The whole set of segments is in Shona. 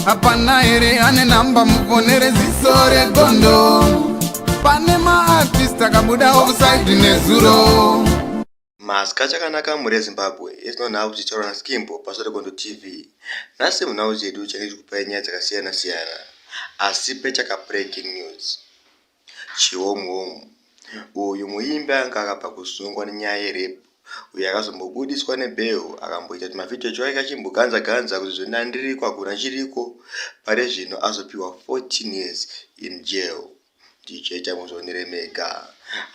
hapana here ane namba mufonere ziso regondo pane maartist akabuda offside nezuro maska chakanaka mhuri yezimbabwe yetinonhau tichitaura naskimbo paso regondo tv nhasi munhau chedu change chikupai nyaya dzakasiyana siyana asi pechaka breaking news Chihomuhomu, uyu muimbi anga akabva kusungwa nenyaya yerape uye akazombobudiswa nebail akamboita tumavhidhiyo twake achimboganza ganza kuti zvino ndiriko hakuna chiriko pari zvino azopihwa 14 years in jail ndichaita muzvionere mega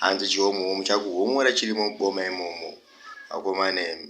hanzi chihomuhomu chakuhomora chirimo muboma imomo vakomana imi.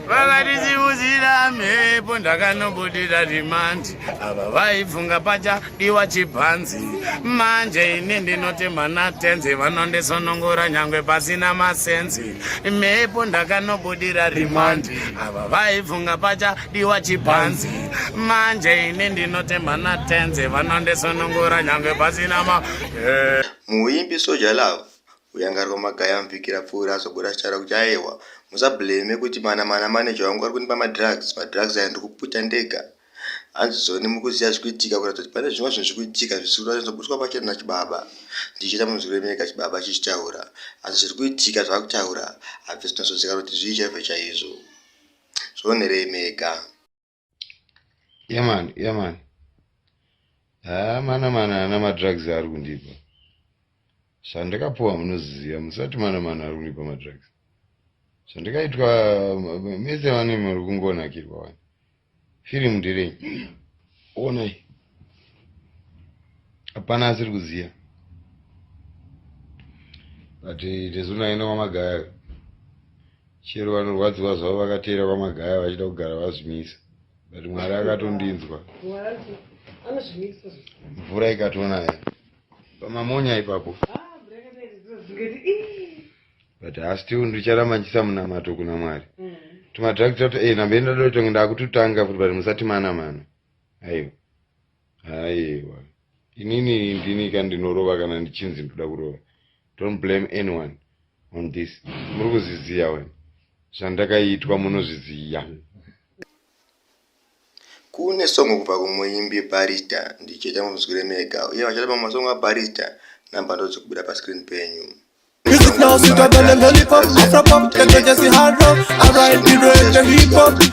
vakatisimudzira mhepo ndakanobudira rimandi ava vaifunga pacha diwa chibhanzi manje ini ndinoti mwana tenzi vanondisonongora nyangwe pasina masenzi mhepo ndakanobudira rimandi ava vaifunga pacha diwa chibhanzi manje ini ndinoti mwana tenzi vanondisonongora nyangwe pasina ma muimbi soja love Kuyangarwa magaya muvhiki rapfuura azobuda achitaura kuti aewa musablame kuti mana mana manager wangu ari kundipa madrugs, madrugs aya ndiri kuputa ndega. Hanzi Zone mukuziva zviri kuitika kuratidza kuti pane zvimwe zvinhu zviri kuitika zvisiri kuda kunyatsogutwa pachena nachibaba. Ndichiita munzwi remeka chibaba chichitaura asi zviri kuitika zvaari kutaura hazvisi kunyatsonzwikana kuti zvii chaizvo chaizvo. Zvionere mega. yeman yeman haa ah, mana mana ana madrugs ari kundipa zvandakapuwa munoziziva musati mana mana ari kundipa madrugs zvandakaitwa mese vane muri kungonakirwa wani firimu ndirei onai hapana asiri kuziva but tezunayenda kwamagaya Chero vanorwadziwa zvavo vakateera kwaMagaya vachida kugara vazvimisa but Mwari akatondinzwa. Mvura ikatonaya pamamonya ipapo. But I still ndicharamba ndichisamunamato kuna Mwari. Mm. Tumadrugs tato eh nambe ndadotonge ndakututanga futi but musati mana mana. Aiwa. Aiwa. Inini ndini kandinorova kana ndichinzi ndoda kurova. Don't blame anyone. on this muri kuzviziva wena zvandakaitwa munozviziva kune songo kubva kumuimbi barista ndicheta munzwire mega uye vachata pamwe masongo abarista namba ndodzikubuda pascreen penyu Music now, sit down and lollipop, Afropop, the judges, the hard rock. I ride the road, the hip hop.